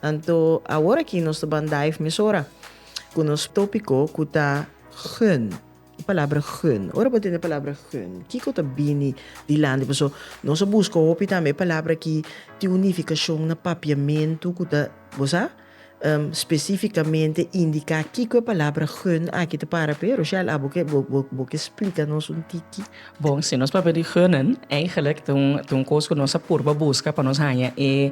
Anto awor aki nos ta ban dive mesora cu nos topico cu ta gun. E palabra gun. Ora bo tende e palabra gun, kico ta bini dilanti? Paso nos a busca hopi tambe e palabra aki tin un nificacion na papiamento cu ta, bo sa, specificamente indica kico e palabra gun aki ta para p'e. Rochelle, abo ke bo ke splica nos un tiki? Bon, si nos papia di gunnen, eigenlijk ta un cos cu nos a purba busca pa nos hanja e.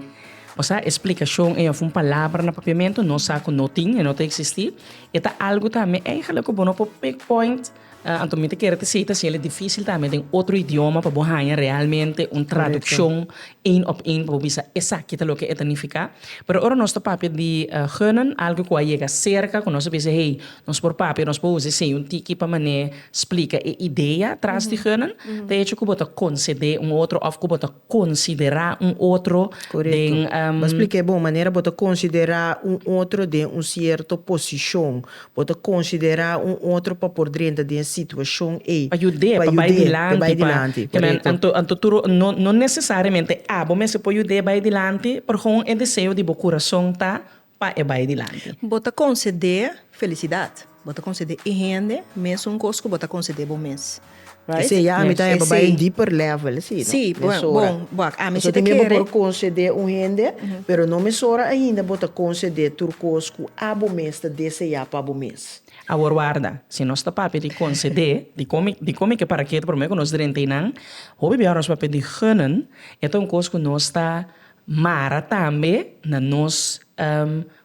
Pasá e splikashon ei of un palabra na papiamentu nos sa ku no tin, e no ta eksistí, e ta algu tambe èigelik ku bo no por pigpoint. Anto mi ta kere ta si ta hasiel e difísil tambe den otro idioma pa bo haña realmente un tradukshon één òp één pa bo bisa esaki ta loke e ta nifiká. Pero ora nos ta papia di geunen, algu ku a yega serka ku nos a bisa hey nos por papia, nos por usa e seña un tiki pa manera splika e idea tras di geunen, ta hecho ku bo ta konsedé un otro òf ku bo ta. considerá un otro den. Correcto. Bo a splic'é bon manera bo ta considerá un otro den un cierto posicion. Bo ta considerá un otro pa por drenta den e situacion ei. Pa yud'é, pa bai dilanti. Pa bai dilanti, correcto. Anto tur, no, no necesariamente abo mester por yud'é bai dilanti, por hon e deseo di bo curason ta. pa e bai dilanti. Bo ta konsede felisidat. Bo ta konsede e hende mes un kos ku bo ta konsede bo mes. Right? Esei ya ami ta heba bai en deeper level esei no. Si, bon, bon, wak, ami si ta kere. Pasobra tin mim bo por konsede un hende, pero no mesora ainda bo ta konsede tur kos ku abo mes ta deseá pa bo mes. Awor warda, si nos ta papia di konsede, di komi, di komi ke paraketa promé ku nos drenta einan, hopi biaha nos papia di gunnen, e ta un kos ku nos ta Mara tambe na nos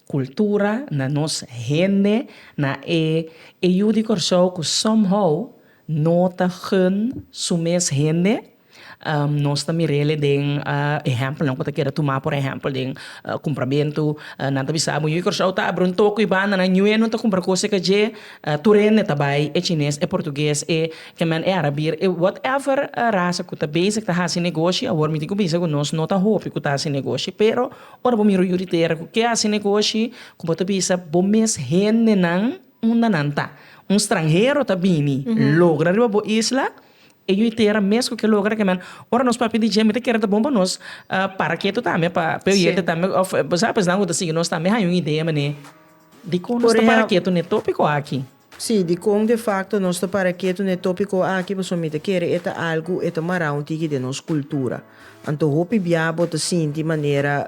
cultura, na nos hende, na e e yu di Corsou cu somehow no ta gun su mes hende. Nos ta mirele den ehempelnan cu ta keda tuma por ehempel den cumpramentu nan ta bisa bo yu di Corsou ta abri un toco y banda nan nuenan ta cumpra cos e calle tur hende ta bay e chines, e portugues, e E men e arabir e whatever rasa cu ta bezig ta haci negoshi, awor mi tin cu bisa cu nos no ta hopi cu ta haci negoshi, pero ora bo mira un yuritera cu ke haci negoshi cu bo ta bisa bo mes hendenan unda nan ta, un stranhero ta bini logra riba bo isla e yuitera mes cu ke logra ke men, ora nos papia DJ mi ta kere ta bon pa nos para ketu tambe pa pe oyente tambe of bo sa pues nan cu ta sigui nos tambe haya un idea mane dikon nos ta para ketu ne topico aki. Sí, dikon de fakto nos ta para kiet un e tópiko aki? Pasobra mi ta kere e ta algu e ta mará un tiki den nos kultura. Anto hopi bia bo ta sinti manera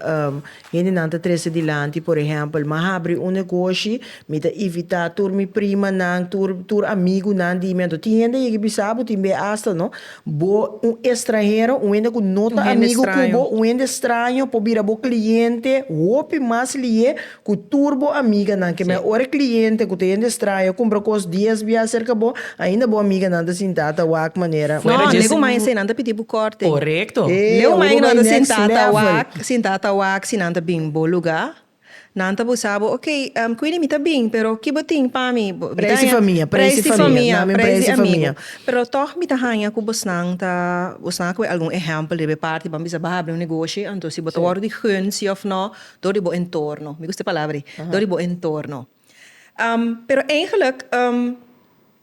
hendenan ta trese dilanti, por ehèmpel, mi a habri un negoshi, mi ta ivitá tur mi primanan, tur tur amigunan di mi. Anto tin hende a yega bisa bo tin be asta no bo un estranhero, un hende ku no ta amigu ku bo, un hende straño por bira bo kliente hopi mas lié Cu tur bo amiganan, kema e ora e cliente cu ta hende straño a cumpra cos dies bia cerca bo, ainda bo amiganan ta sinta ta wak manera. No, lego maña esei nan ta pidi bo korting. Corecto. Ey, Lego abo maña bo cu nan ta bai next sinta ta level. wak, sinta ta wak si nan ta bin bo luga, nan ta busa bo, ok, Queenie mi ta bin, pero ki bo tin pa mi? Bo, mi ta Prijs di haña famia, prijs prijs di di famia, famia, namin prijs prijs di di amigo. famia. Pero tog mi ta haña cu bosnan ta, bosnan a coge algun ehempel riba e parti, ban bisa baha habri un negoshi, anto si bo ta wordo di gunsi of no, Dor di bo entorno. Mi gusta e palabra ei. Dor di bo entorno. Pero eigenlijk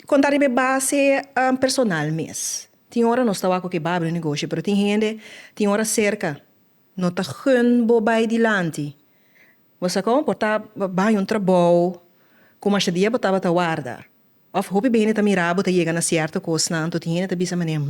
kon ta riba e base personal mes. Tin ora nos ta wak, Babia un negoshi pero tin hende tin ora serka no ta gun bo bai dilanti. Bo sa kon? Por ta baña un trabou ku masha dia bo tabata warda. Òf hopi hende ta mira bo ta yega na sierto kosnan anto tin hende ta bisa manera,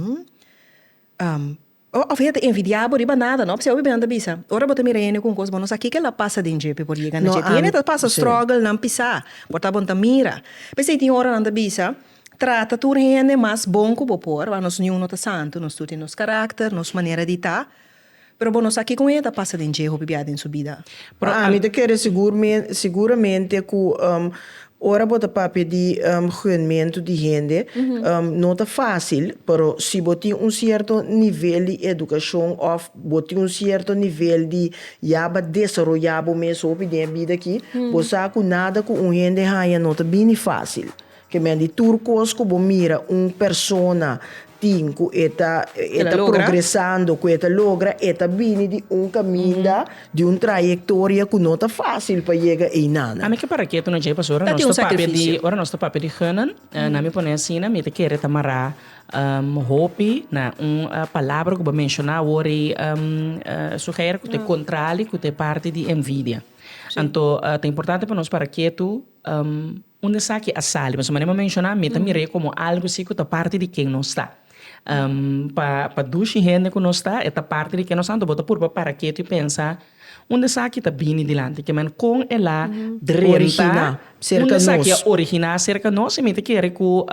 Hum, Of hende ta envidia bo riba nada, no? P'esei hopi bianan ta bisa, ora bo ta mira hende ku un kos bon, no sa kiko el a pasa den dje p'e por yega na dje. Tin hende ta pasa strògelnan pisá, por ta bon ta mira. P'esei tin ora nan ta bisa, Trata tur hende mas bon ku bo por, wòr nos niun no ta santu, nos tur tin nos karakter, nos manera di ta, pero bo no sa kiko un hende ta pasa den dje hopi bia den su bida. Ami ta kere sigur siguramente ku Ora bo ta papia di guenmentu di hende, no ta fásil, pero si bo tin un sierto nivel di edukashon òf bo tin un sierto nivel di ya ba desaroyá bo mes hopi den e bida akí, bo sa ku nada ku un hende haña no ta bini fásil. Kemen di tur kos ku bo mira un persona tin cu e ta progresando, cu e ta logra, e ta bini di un caminda, di un trayectoria cu no ta facil pa yega eyna'nan. Ami ke para ketu na djei pasobra nos ta papia di, ora nos ta papia di genan, na mi pone asina, mi ta kere ta mara hopi na un palabra cu bo a menciona awor ei, Suheir, cu ta e contrali, cu ta e parti di envidia. Anto ta importante pa nos para ketu. Unda esaki a sali? Pasobra manera mi a menshoná mi ta mir'é komo algu si ku ta parti di ken nos ta. Pa pa dushi hende ku nos ta e ta parti di ken nos ta, anto bo ta purba para ketu i pensa, Unda esaki ta bini dilanti? Ke men kon el a drenta? Unda esaki a originá serka nos? I mi ta kere ku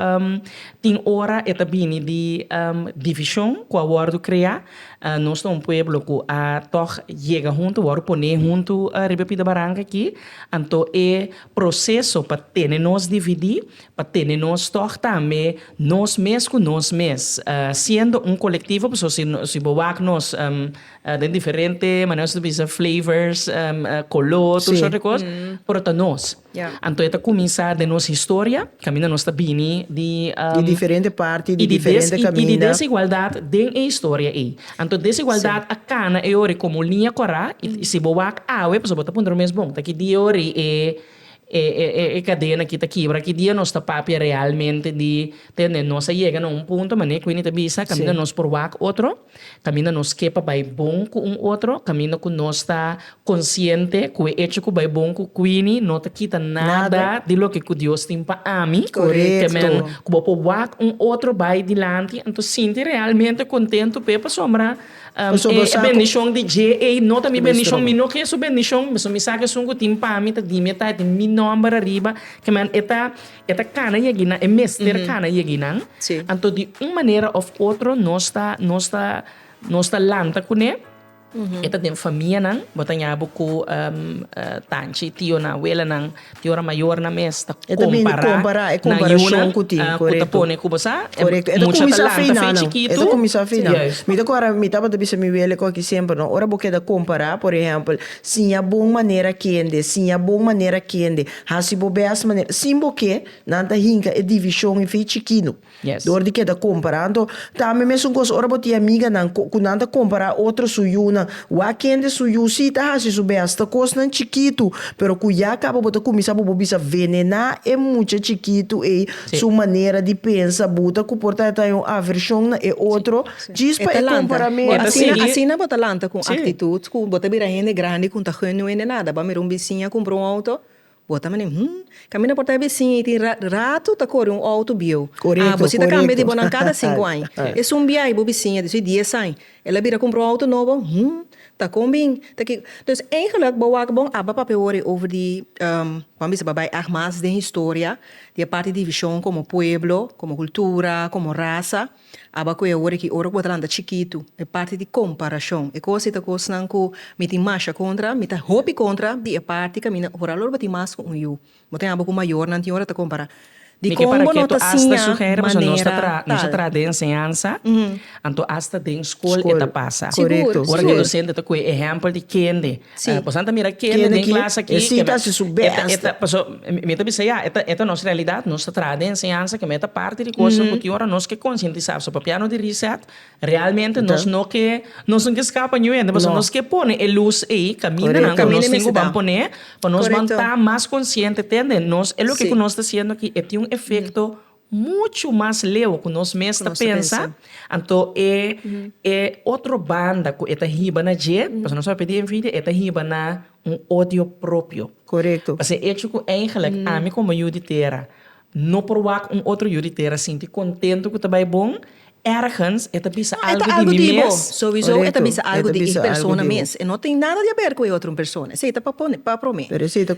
tin ora e ta bini di divishon ku a wòrdu kreá. Nos ta un pueblo ku a tòg yega huntu, wòrdu pon'é huntu riba Pita Baranka akí. Anto e proseso pa tene nos dividí, pa tene nos tòg tambe nos mes ku nos mes, siendo un kolektivo, pasobra si si bo wak nos den diferente manera nos ta bisa flavors, koló, tur sort di kos, pero ta nos. Anto e ta kuminsá den nos historia, kaminda nos ta bini di, Di diferente parti, di diferente kaminda. I di desigualdat den e historia ei. Anto desigualdat a kana e ori komo liña kòrá i si bo wak awe pasobra bo ta puntra bo mes, bon, ta ki dia ori e e kadenan akí ta kibra? Ki dia nos ta papia realmente di tende nos a yega na un punto manera ku Winnie ta bisa kaminda nos por wak otro, kaminda nos ke pa bai bon ku un otro, kaminda ku nos ta Konsiente ku e echo ku bai bon ku Queenie no ta kita nada di loke ku Dios tin pa ami, te men ku bo por wak un otro bai dilanti, anto sinti realmente kontentu p'e pasobra e bendishon di dje ei no ta mi bendishon, mi no ke su bendishon, pasobra mi sa ku esun ku tin pa mi ta di mi e tai tin mi nòmber ariba, te men e ta e ta kana yegi nan, e mester kana yegi nan, anto di un manera òf otro nos ta nos ta nos ta lanta kuné. E ta den famianan, bo ta ña bo ku tanchi tionan, awelanan, di ora mayornan mes ta kompará nan yunan ku ta pone ku bo sa, mucha ta lanta fe chikitu. E ta kuminsá fei nan. Mi ta kòrda mi tabata bisa mi wele ku a ki semper no, ora bo keda kompará, por ehèmpel, siña bon manera kende, siña bon manera kende, hasi bo bes manera, sin bo ke nan ta hinka e divishon ei fei chikinu. Dor di keda compará anto tambe mesun cos ora bo tin amiganan cu nan ta compará otro su yunan wak kende su yu si ta haci su bes hasta cosnan chikitu pero cu ya caba bo ta cuminsá bo bo bisa venená e mucha chikitu ey su manera di pensa buta cu por ta ta un aversion na e otro djis pa e comparamentu. Asina asina bo ta lanta cu un actitud cu bo ta bira hende grandi cu ta genuine nada bo a mira un biciña cumpra un auto Bo ta mane, Hm, kaminda por ta e besin ei tin ratu ta kore un outo bieu. Ah, bo si ta kambia di bo nan kada sinku aña. Esun biahi bo besin a di su dies aña. El a bira kumpra un outo nobo? Hm, ta kon bin, ta kiko. Dus eigenlik bo wak bon a ba papia wor ei over di, bo bisa bo a bai ach mas den historia di e parti divishon komo pueblo, komo kultura, komo rasa. Aba ku e ora ki ora ku bo ta lanta chikitu, e parti di komparashon. E kos ei ta kosnan ku mi tin masha kontra, mi ta hopi kontra di e parti kaminda. Ora alor bo tin mas ku un yu, bo ta yama bo ku mayornan tin ora ta kompará. Dikon bo no ta siña manera tal? Nos a traha den enseñansa, anto asta den skol e ta pasa. Sigur, sigur. Ora ku e dosente ta kohe ehèmpel di kende Si. Eh, bosa no ta mira kende den klas aki. E si ta si su bèst. Paso, mi ta bisa ya, e ta, e ta nos realidat. Nos ta traha den enseñansa ke me ta parti di kos ku tin ora nos ke konsientisá. Paso papia no di Reset, realmente nos no ke, nos no ke skapa New Yende. Paso nos ke pone e lus ei, kamindanan ku nos tin ku ban pone pa nos ban ta mas konsiente, tende? Nos, e loke ku nos ta siendo aki e tin un efekto. Muchu mas leu ku nos mes ta pensa. Anto e e otro banda ku e ta hiba na dje, pasobra nos a papia di envidia, e ta hiba na un odio propio. Pasobra e echo ku eigenlik ami komo yu di tera no por wak un otro yu di tera sinti kontentu ku ta bai bon, Ergens e ta bisa algu di mi mes. Sowieso e ta bisa algu di e persona mes. E no tin nada di a ber ku e otro persona. Esei ta pa pone, pa prome.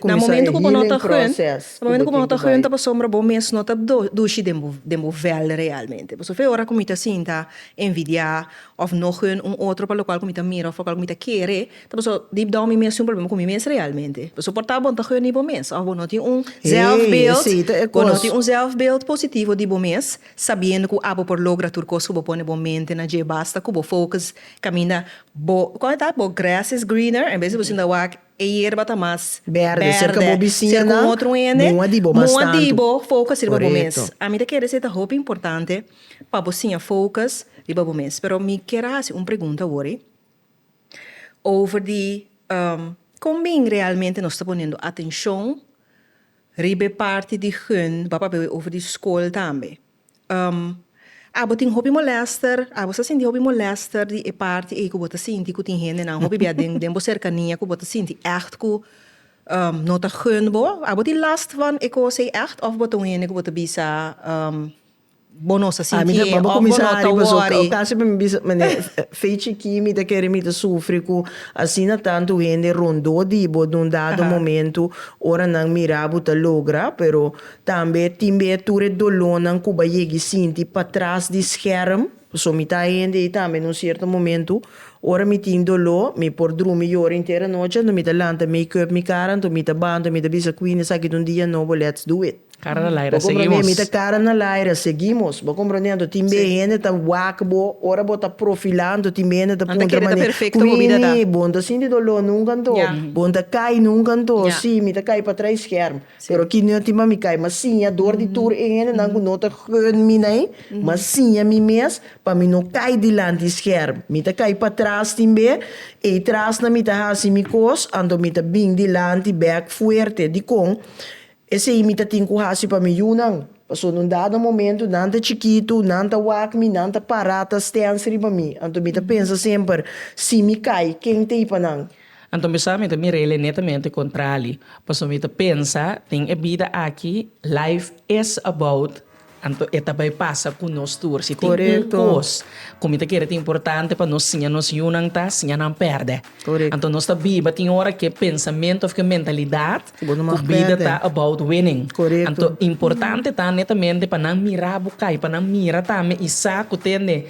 Na momento ku bo no ta hun, na momento ku bo no ta hun ta pasobra bo mes no ta dushi den bo, den bo vel realmente. Pasobra e ora ku mi ta sinta envidiá òf no hun un otro pa lokual ku mi ta mira òf lokual ku mi ta kere, ta pasobra deep down mi mes tin un problema ku mi mes realmente. Pasobra por ta bo no ta hun di bo mes òf bo no tin un zelfbeeld, bo no tin un zelfbeeld positivo di bo mes. Sabiendo cu abo por logra tur cos cu bo pone bo mente na dje, basta cu bo focus caminda bo, con e ta? Bo grass is greener, en bes di bo sinta wak e yerba ta mas berde cerca bo bisiñanan, muha di bo mas tantu. Muha di bo focus riba bo mes. Ami ta kere esei ta hopi importante pa bo siña focus riba bo mes. Pero mi kier a haci un pregunta awor-i over di con bin realmente nos ta ponendo atencion. Riba e parti di Hun bo a papia awe over di school tambe. Um, abo tin hopi molester, abo sa sinti hopi molester di e parti ey cu bo ta sinti cu tin hendenan hopi bia den den bo cercania cu bo ta sinti echt cu um no ta Hun bo? Abo tin last van e cos ey echt of bo ta un hende cu bo ta bisa um. Bo no sa sinti e of bo no ta worry. Casi mi bisa mende fechi ki mi ta kere mi ta sufri cu asina tanto hende rondo di bo den un dado momento ora nan mira bo ta logra pero tambe tin be tur e dolornan cu bay yegui sinti patras di scherm pasobra mi ta hende y tambe den un cierto momento ora mi tin dolor mi por drumi yora inter anochi anto mi ta lanta make up mi cara anto mi ta banta mi ta bisa cu ini esaki ta un dia nobo let's do it. Cara na laira seguimos. Mi ta cara na laira seguimos. Bo comprende anto tin be hende ta wak bo ora bo ta profila anto tin be hende ta puntra mane kuini bon ta sinti dolo nunka anto bon ta kai nunka anto si mi ta kai patra e scherm pero aki no tin pa mi kai mas siña dor di tur e hendenan ku no ta gun mi nai mas siña mi mes pa mi no kai dilanti e scherm mi ta kai patras tin be ei trasna mi ta hasi mi kos anto mi ta bin dilanti back fuerte dikon Esei mi ta tin ku hasi pa mi yunan, pasobra na un dado momentu nan ta chikitu, nan ta wak mi, nan ta pará ta stens riba mi. Anto mi ta pensa semper, Si mi kai, ken ta ei pa nan? Anto mi sa mi ta mira el netamente kontrali, pasobra mi ta pensa, Tin e bida aki, life is about. Anto e ta bai pasa ku nos tur. Si tin un kos ku mi ta kere ta importante pa nos siña nos yunan ta siña nan pèrdè. Anto nos ta biba tin ora ku e pensamentu òf ku e mentalidat ku bida ta about winning. Anto importante ta netamente pa nan mira bo kai, pa nan mira tambe i sa ku tende.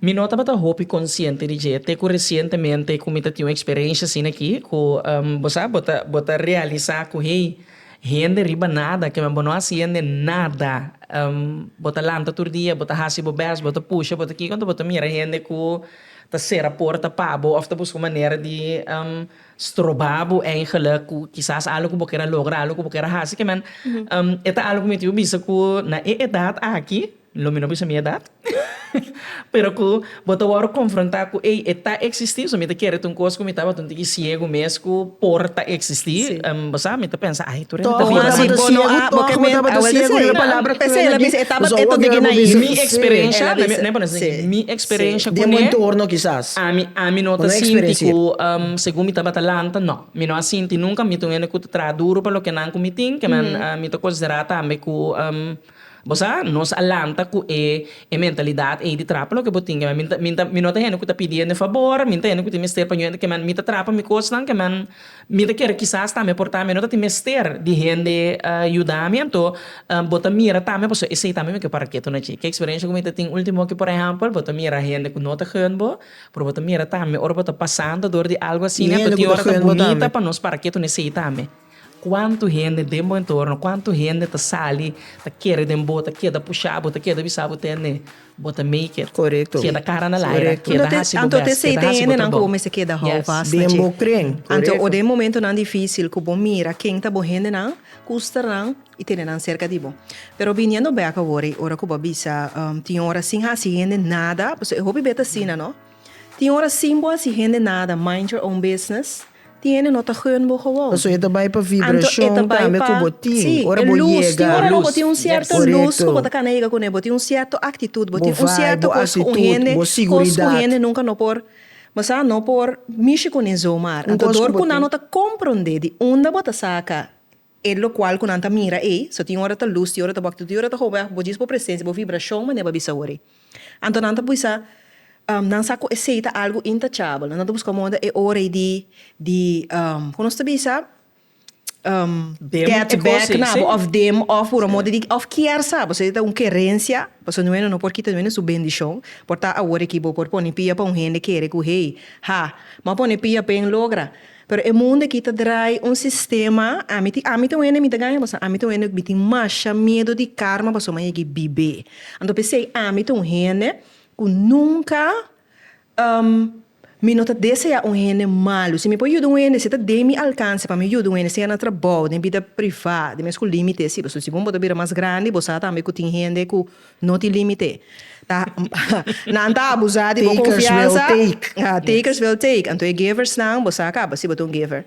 Mi no tabata hopi konsiente di dje te ku resientemente ku mi ta tin un eksperensha asina aki ku bo sa bo ta bo ta realisá ku hey hende riba nada kiba bo no hasi hende nada bo ta lanta tur dia bo ta hasi bo bes bo ta pusha bo ta kiko enton bo ta mira hende ku ta sera porta pa bo òf ta buska un manera di stroba bo eingelik ku kisas algu ku bo kere a logra algu ku bo kere a hasi kiba e ta algu ku mi tin wak bisa ku na e edat aki Lo mi no bisa mi edat, pero ku bo ta wòrdu konfrontá ku ei e ta eksistí, so mi ta kere ta un kos ku mi tabatin tiki siegu mes ku por ta eksistí. Bo sa, mi ta pensa, ai tur e no ta biba si bo no a bo ke menta a wèlta esei. Esei ela bisa, e tabat e ta tiki na hil. Mi eksperensha, mi a pone asin, mi eksperensha ku ne, ami ami no ta sinti ku segun mi tabata lanta, no. Mi no a sinti nunka, mi ta un hende ku ta traha duru pa loke nan ku mi tin, ke nan mi ta konsiderá tambe ku. Bo sa, nos a lanta ku e e mentalidat ei di trapa loke bo tin, keman mi ta mi no ta hende ku ta pidi hende fabor, mi no ta hende ku ta mester pa hende, keman mi ta trapa mi kosnan, keman mi ta kere kisas tambe por tambe no ta tin mester di hende yuda mi anto bo ta mira tambe pasobra esei tambe mi ke para ketu na chi. Ke eksperensha ku mi ta tin ultimo aki por ehèmpel bo ta mira hende ku no ta hènt bo pero bo ta mira tambe ora bo ta pasando dor di algu asina pa tin ora ta bunita pa nos para ketu na esei tambe. Cuantu hende den bo entorno, cuantu hende ta sali, ta kere den bo, ta keda pusha bo, ta keda bisa bo tende bo ta make it. Corecto. Keda cara na laira, keda haci bo best, keda haci bo trabao. Yes. Den bo cren. Corecto. Den momentonan dificil cu bo mira ken ta bo hendenan, custer nan y tene nan cerca di bo. Pero viniendo back awor ey ora cu bo a bisa tin ora sin haci hende nada, pasobra e hopi bet asina no. Tin ora sin bo hasi hende nada, mind your own business, tin hende no ta gun bo gewoon. Paso e ta bai pa vibrashon tambe ku bo tin, ora bo yega. Tin ora ku bo tin un sierto lus ku bo ta kana yega kuné, bo tin un sierto aktitut, bo tin un sierto kos ku un hende, kos ku hende nunka no por masá, no por mishi kuné zomaar. Anto dor ku nan no ta komprondé di unda bo ta saka. E lokual ku nan ta mira ei, so tin ora ta lus, tin ora ta bòk, tin ora ta howèk, bo djis bo presensia, bo vibrashon mane bo a bisa wòrè. Anto nan ta bisa, nan sa ku esei ta algu intachabel, nan ta buska moda ta e ora ei di di ku nos ta bisa gèt bèk na bo òf dem òf puro moda di òf kier sa bo, esei ta un kerensia, pasobra no bueno no por kita noeno su bendishon, por ta awor aki bo por pone pia pa un hende kere ku hey, ha, m'a pone pia p'en logra. Pero e mundo aki ta drai un sistema, ami tin ami ta wende mi ta gaña pasobra ami ta wende uk mi tin masha miedu di karma pasobra mi a yega bibe. Anto p'esei ami ta un hende ku nunka mi no ta deseá un hende malu. Si mi por yuda un hende si ta den mi alkanse pa mi yuda un hende, sea na trabou, den bida privá, den mes ku límite e si. Pasobra si bo no por ta bira mas grandi bo sa tambe ku tin hende ku No tin límite. Ta Nan ta abusá di bo konfiansa. Takers will take. Ha, takers will take. Anto e geversnan, bo sa kaba si bo ta un gever.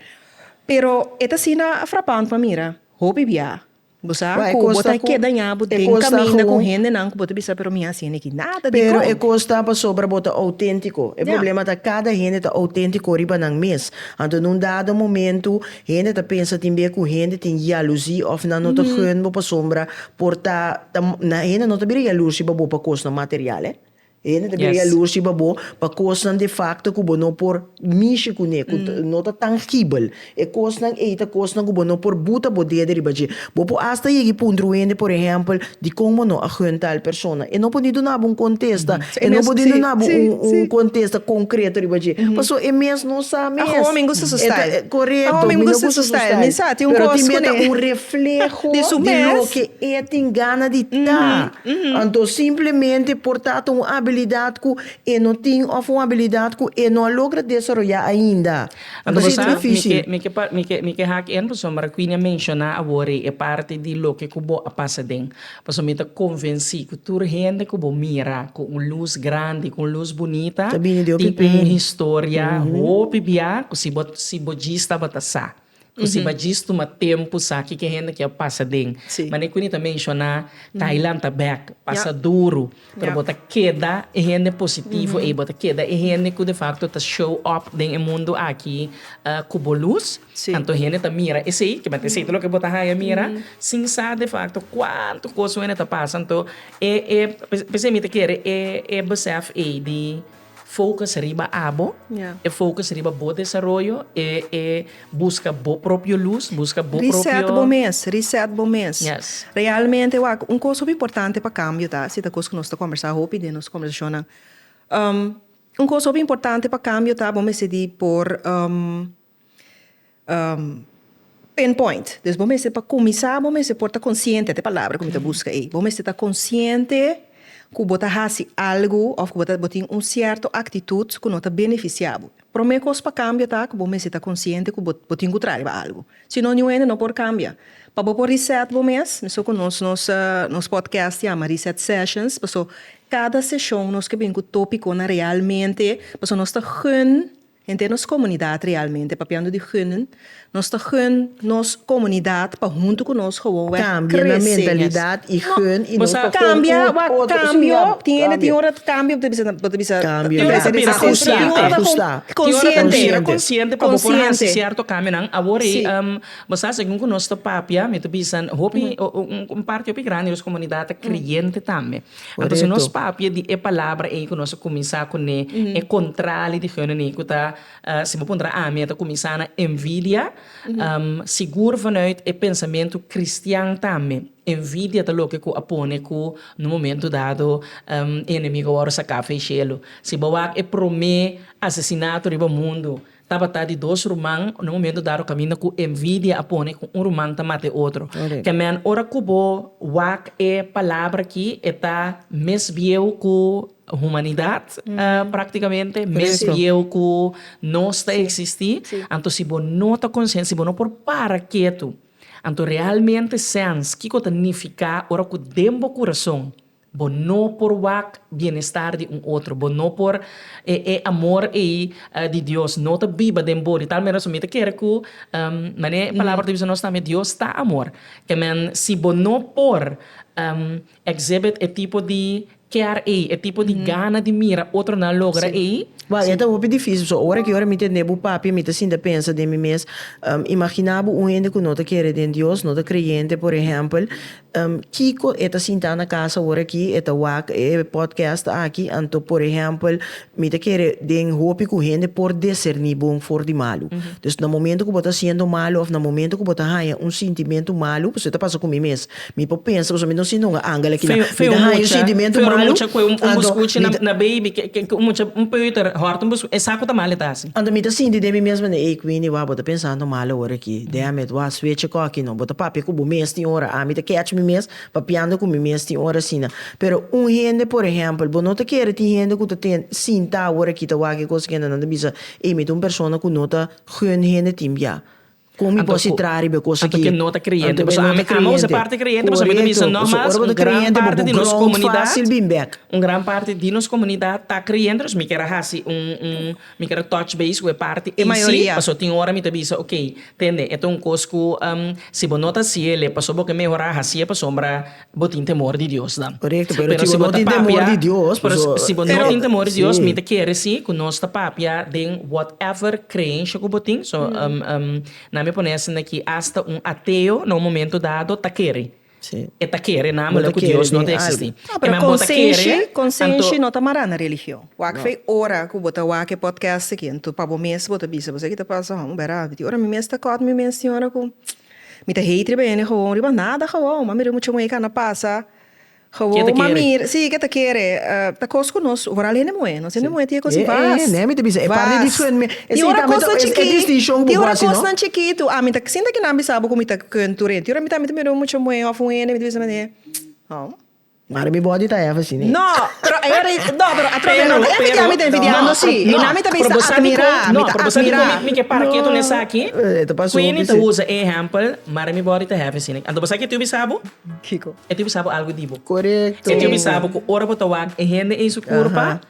Pero e ta asina frapant pa mira. Hopi biaha bo sa Wak e ku bo kos ta ta ku keda dañá bo e den kos ta kaminda ku gewoon. hendenan ku bo ta bisa pero mi hasi niki nada. Pero e Dikon? kos ta pasobra bo ta outéntiko. E Ya. problema ta kada hende ta outéntiko riba nan mes. Anto na un dado momentu hende ta pensa tin bier ku hende tin yalusí òf nan no ta geun bo pasobra Por ta ta na hende no ta bira yalur riba bo pa kosnan material eh. E hende ta bira yalur riba bo pa kosnan de facto ku bo no por mishi kuné, ku no ta tangibel. E kosnan ei ta kosnan ku bo no por buta bo dede riba dje. Bo por asta yega i puntra un hende por ehèmpel, dikon bo no a hunnt tal persona? E no por ni duna bo un kontesta, e no por ni duna bo un un kontesta konkreto riba dje. Pasobra e mes no sa mes. Aho mi gusta su style. Korekto, mi no gusta su style, pero tin mei ta un. refleho di su mes. Di loke e tin gana di ta. Anto simplemente por tabata un abilidad cu e no tin of un abilidad cu e no a logra desaroya ainda. Anto bo sa, mi ke mi ke mi ke hak en pasobra Quini a menciona awor ei e parti di loke cu bo a pasa den. Pasobra mi ta convenci cu tur hende cu bo mira cu un luz grandi, cu un luz bunita, tin un historia hopi bia cu si bo si bo djis tabata sa. Cu si ba djis tuma tempu sa kiko e hende ki a pasa den. Mane cu Nita menciona, Thailand ta bek pasa duru, pero bo ta keda e hende positivo ey, bo ta keda e hende cu de facto ta show up den e mundo aki cu bo luz, anto hende ta mira esey, kibati esey ta loke bo ta haya mira, sin sa de facto cuantu cos wene ta pasa. Anto, e, e, p'esey mi ta kere e besef ey di. Focus riba abo, e focus riba bo desaroyo, e e buska bo propio luz, buska bo propio. Reset bo mes, reset bo mes. Yes. Realmente wak, un kos hopi importante pa kambio ta, si ta kos ku nos ta kòmbersá hopi den nos kòmbersashonnan. Un kos hopi importante pa kambio ta bo mester di por Pinpoint, dus bo mester pa kuminsá bo mester por ta konsiente, te palabra ku mi ta buska ei, bo mester ta konsiente ku bo ta hasi algu òf ku bo tin un sierto aktitut ku no ta benefisiá bo. Promé kos pa kambia ta ku bo mester ta konsiente ku bo tin ku traiba algu, si no niun hende no por kambia. Pa bo por reset bo mes, mesun ku nos nos nos podcast yama Reset Sessions, paso kada seshon nos ke bin ku topikonan realmente paso nos ta gùn Hende di nos komunidat realmente papiando di gunnen, nos ta gun nos komunidat pa huntu ku nos gewoon wak krese en es. Kambio na mentalidat i gun i nos pa kon un otro kambio tin hende tin un ora kambio bo ta bisa bo ta bisa tin ora ta bisa konsiente konsiente pa bo por hasi sierto kambionan awor ei bo sa segun ku nos ta papia mi ta bisa hopi un parti hopi grandi di nos komunidat ta kreyente tambe Anto si nos papia di e palabra ei ku nos a kuminsá kuné e kontrali di heunaní ku ta, si bo puntra ami, a ta kuminsá na envidia, sigur vanuit e pensamentu kristian tambe envidia ta loke ku a pone ku na un momentu dado e enemigu a wòrdu sakado ei shelu. Si bo wak e promé asesinato riba mundu, Tabata di dos ruman na un momento dado caminda cu envidia a pone cu un ruman ta mata e otro. Amen. Ora cu bo wak e palabra aki e ta mes bieu cu humanidad practicamente, mes bieu cu nos ta existi. Anto si bo no ta consciente, si bo no por para ketu, anto realmente sens kico ta nifica ora cu den bo curason. Bo no por wak bienestar di un otro. Bo no por e e amor ei di Dios no ta biba den bo. Di tal manera su mi ta kere ku manera e palabra ta bisa nos tambe Dios ta amor. Te men si bo no por exhibit e tipo di kèr ei, e tipo di gana di mira otronan logra ei. Wak e ta hopi difísil. So ora ki ora mi tende bu papia mi ta sinta pensa den mi mes, imagina bo un hende ku no ta kere den Dios, no ta kreyente por ehèmpel. Kiko e ta sintá na casa horakí e ta wak e podcast aki, anto por ehèmpel mi ta kere den hopi ku hende por deserní bon for di malu. Dus na momento ku bo ta siendo malu òf na momento ku bo ta haña un sintimentu malu, pasobra ta pasa ku mi mes, mi por pensa pasobra mi no sinti un angel aki nan, mi ta haña un sintimentu malu, anto mi ta. Anto mi ta sinti den mi mes mende, Ey Queenie, wak, bo ta pensando mal e ora aki. Deha mi et wak, sweche ko aki no. Bo ta papia ku bo mes tin ora. Ami ta catch mi mes papiando ku mi mes tin ora asina. Pero un hende, por ehempel, bo no ta kere tin hende ku ta tin sinta awor aki ta wak e kos kende nan ta bisa, Ey, mi ta un persona ku no ta gun hende tin bia. Con mi por si traha riba e cosa ki. Anto ke no ta creyente. Paso ami amo se parte creyente paso mi ta bisa no mas un gran parte di nos comunidad un gran parte di nos comunidad ta creyente paso mi kier a haci un un mi kier a touch base cu e parte eysi paso tin ora mi ta bisa ok tende e ta un cos cu si bo no ta haciele paso bo ke mehora hacie pasobra Bo tin temor di Dios nan. Korekto, pero si bo no tin temor di Dios, paso Pero si bo no tin temor di Dios, mi ta kere si ku nos ta papia den whatever kreenshia ku bo tin. So, nan mi a pone esei aki, asta un ateo na un momento dado ta kere. E ta kere namele ku Dios no ta eksistí. No, pero konsenshi, konsenshi no ta mará na religion. Wak fe ora ku bo ta wak e podcast aki, anto pa bo mes bo ta bisa, bo sa ki ta pasa, hòmber a, di ora mi mes ta kòt mi mes tin ora ku. Mi ta hate riba hende gewoon riba nada gewoon mami riba mucha muhé ka na pasa gewoon ma mira si ke ta kere ta kos ku nos vooral hende muhé nos hende muhé tin e kos di bas nea mi ta bisa e par di discuen mi tin ora kosnan chikí tin ora kosnan chikí tu ami ta sinta kinan bisa bo ku mi ta kuen tur hende tin ora mi ta mi ta mira un mucha muhé of un hende mi ta bisa tum. Mari mi body ta hef así ne. No, pero e ora no pero a trofe no e efectivo mi ta envidiando si y na mi ta bisa admira mi ta admira. Mi ke para keto na esaki quin mi ta usa e ehempel Mari mi body ta hef así ne anto bo sa kitiu bisa bo? Kiko? E tiu bisa bo algo di bo. Corecto. E tiu bisa bo cu ora bo ta wak e hende in su curpa.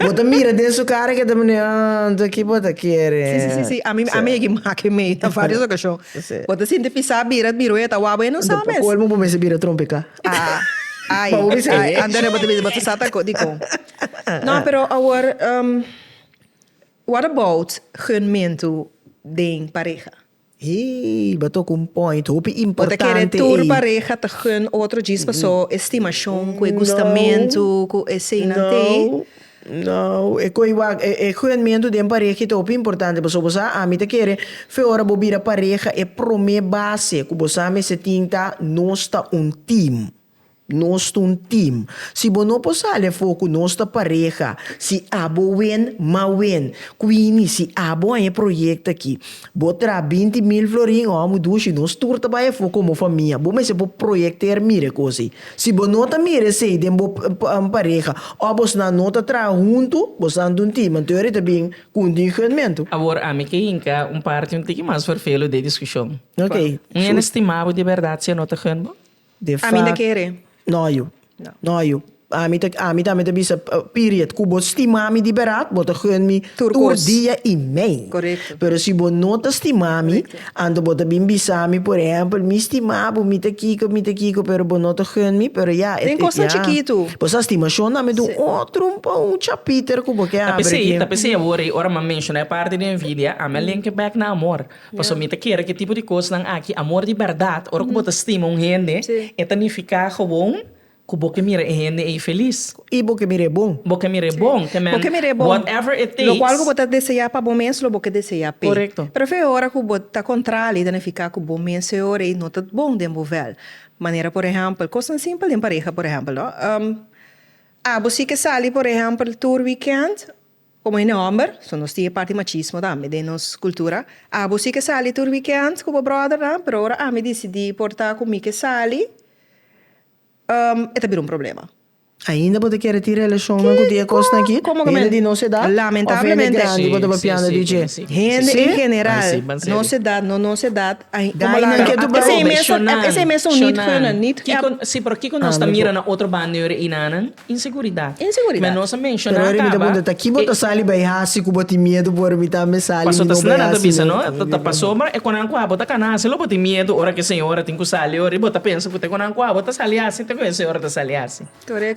Bo ta mira den su cara ke ta mane, ah, nto ki bo ta kere. Sí, sí, sí, sí, ami, ami e ki make mei na varios ocasion. Sí. Bo ta sinti pisa bira, bira oye ta wak bo, e no sa mes. Pa colmo bo mester bira trompeca. Ah, ay, Pa bo bisa ay, e. anto de bo ta bisa bo ta sa ta co, dicon. No, pero awor, what about gunmento den pareha? Hei, bo toca un point hopi importante ei. Bo ta kere tur pareha ta gun otro djis paso e stimacion cu e gustamentu cu eseinan tei? No, no, e coi wak, e gunmentu den pareha ei ta hopi importante paso bo sa ami ta kere fe ora bo bira pareha e prome base cu bo sa mester tin ta nos ta un team. Nos ta un team. Si bo no por sali afó cu nos ta pareha, si abo wen, ma wen. Quini, si abo haña e proyecto aki, bo traha binti mil florin o amo dushi, nos tur ta bai afó como famia. Bo mester por proyecter mira e cos ey. Si bo no ta mira esey den bo pareha, of bosnan no ta traha hunto, bosnan ta un team, anto ey ta bin cu un dingheunmento. Awor ami ke hinca un parti un tiki mas vervelu d'e discusion. Oké. Un hende stima bo di berdad si e no ta heun bo? De Ami na fak, kere. no yu, No. no yu. Ami ta, ami tambe ta bisa, p, period. Ku bo stima mi di berat, bo ta gun mi Tur tur kos. dia i mei. Korekto. Pero si bo no ta stima mi, Korekto. anto bo ta bin bisa mi, por ehèmpel, mi stima bo, mi ta kiko, mi ta kiko, pero bo no ta gun mi, pero ya, e, e, Den kosnan ya. chikitu. Bo sa stimashon tambe ta un Si. otro, un pa, un chapiter ku bo ke Ta abri p'esei, ta aki. p'esei awor ei, ora m'a menshona e parti di envidia, ami a link e bèk na amor. Pasobra mi ta kere ku e tipo di kosnan aki, amor di bèrdat, ora ku bo ta stima un hende, e ta nifiká gewoon ku bo ke mira e hende ei felis. I bo ke mira e bon. Bo ke mira e bon. Te men, whatever it takes. Lokual ku bo ta deseá pa bo mes, lo bo ke deseá p'e. Korekto. Pero fe ora ku bo ta kontra li, ta nifiká ku bo mes e ora ei no ta bon den bo vèl. Manera por ehèmpel, kosnan simpel den pareha, por ehèmpel, no. Abo si ke sali, por ehèmpel, tur wikènt. Komo hende hòmber, so nos tin e parti machismo tambe den nos kultura. Abo si ke sali tur wikènt ku bo bròdernan, pero ora ami disidí por ta ku mi ke sali, e ta bira un problema. Ainda bo ta kere tin relashonnan ku tin e kosnan akí? Hende di nos edat òf hende grandi bo tabapia nan di dje? Hende en general, nos edat, no nos edat, komo laga nan ketu brou. Esei mes ta unit ku yonan, nit. Kiko, sí, pero kiko nos ta mira na otro banda di ora einan? Inseguridat. Inseguridat. Pero ora mi ta punta ta kibo ta sali bai hasi ku bo tin miedu por mi ta me sali mi no bai hasi no. Ta paso ma e konan kua bo ta kana hasi lo bo tin miedu ora ke señora tin ku sali ora i bo ta pensa ku te konan kua bo ta sali hasi te ku e señora ta sali hasi.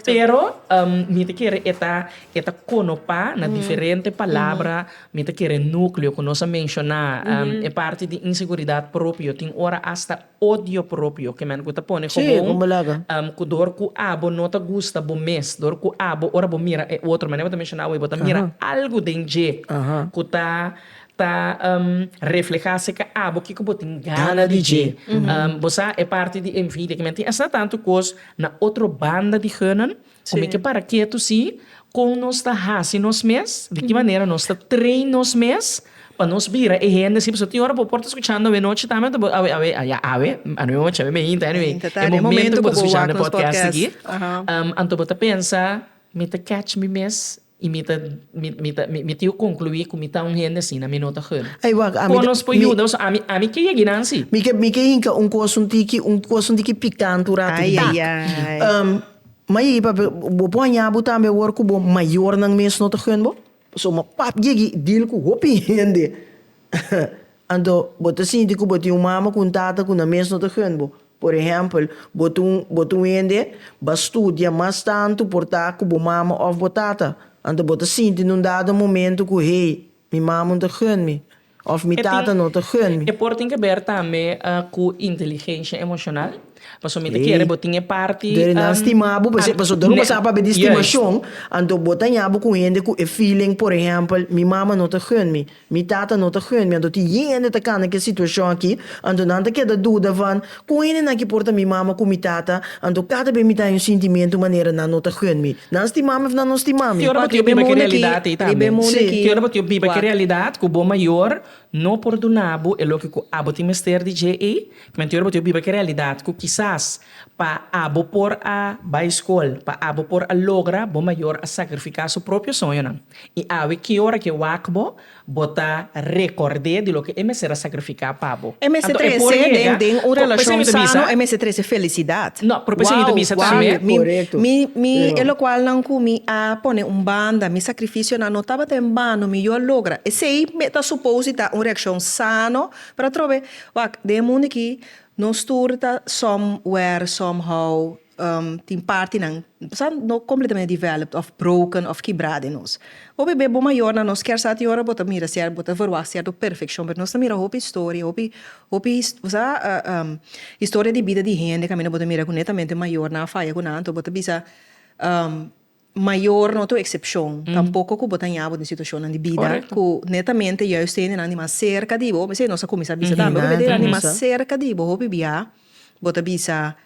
Pero mi ta kere e ta e ta konopa na diferente palabra mi ta kere nukleo ku nos a menshona e parti di inseguridat propio tin ora asta odio propio ke men ku ta pone kobon ku dor ku abo no ta gusta bo mes dor ku abo ora bo mira e otro manera bo ta menshona awor bo ta mira algu den dje ku ta ta refleha serka abo kiko bo tin gana di dje bo sa e parti di envidia ke men tin esta tantu kos na otro banda di heunan Kome ke para ketu si? Kon nos ta hasi nos mes? Di ki manera nos ta train nos mes pa nos bira e hende si? Pasobra tin ora bo por ta skuchando awe nochi tambe ta bo awe awe ya awe anochi awe mainta anyway e momento ku bo ta skuchando e podcast aki anto bo ta pensa mi ta kèch mi mes? I mi ta mi ta mi tio conclui cu mi ta un hende asina mi no ta hurt. Ey wak ami ta Conos por mi yuda nos ami ami ke yegi nan si. mi ke mi ke hinca un cos un tiki un cos un tiki picante un rato Ay, tak. ay, ay. Ehm, ma yegi papia bo por haña bo tambe awor cu bo mayornan mes no ta hurt bo? Pasobra mi pap yegi deal cu hopi hende. Anto, bo ta sinti ku bo tin un mama ku un tata ku nan mes no ta hent bo. Por ehèmpel, bo ta un bo ta un hende ba studia mas tantu por ta ku bo mama òf bo tata. Anto bo ta sinti na un dado momentu ku, Hey, mi mama no ta hent mi. Òf mi tata no ta hent mi. E por tin keber tambe ku inteligensha emoshonal. Pasobra mi ta kere bo tin e parti. Dor di nan stima bo. Pasobra dor un pasá papia di stimashon, anto bo ta haña bo ku un hende ku e feeling, por ehèmpel, mi mama no ta hent mi. Mi tata no ta hende, anto tin yende ta kana ke situashon aki, anto nan ta keda duda van kon hendenan ki por ta mi mama ku mi tata, anto kada be mi ta haña sintimentu manera nan no ta hende mi. Nan stima mi of nan no stima mi? Te ora pa tio biba ke realidat ei tambe. Te ora pa tio biba ke realidat ku bo mayor no por duna bo e loke ku abo tin mester di dje ei, kmen te ora pa tio biba ke realidat ku kisas pa abo por a bai skol, pa abo por a logra, bo mayor a sakrifiká su propio soñonan. I awe ki ora ke wak bo, bo ta rekord'é di loke e mester a sakrifiká pa bo. E mester trese den den un relashon sano, e mester trese felisidat. No, pero p'esei mi ta bisa tambe. Mi, mi, e lokualnan ku mi a pone un banda, mi sakrifisionan no tabata en bano, mi yu a logra. Esei mi ta supos di ta un reakshon sano, pero atrobe, wak, den e mundu aki nos tur ta somewhere, somehow, Tin partinan sa no completamente developed of broken of kibrá den nos. Hopi be bo mayor nan nos kier sa tin ora bo ta mira cierto bo ta evaluá cierto perfeccion pero nos ta mira hopi historia hopi hopi sa historia di bida di hende caminda bo ta mira cu netamente mayor nan a faya cu nan anto bo ta bisa. Mayor no ta un excepcion, tampoco cu bo ta ña bo den situacionnan di bida cu netamente juist gentenan di mas cerca di bo, mesey nos a cuminsa bisa tambe, hopi gentenan di mas cerca di bo hopi bia bo ta bisa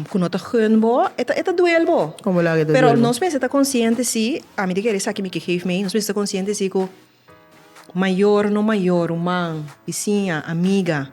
cu no ta gun bo e ta e ta duel bo, pero nos mester ta consciente si, ami ta kere esaki mi ke geef mei, nos mester ta consciente si cu. Mayor, no mayor, ruman, bisiña, amiga.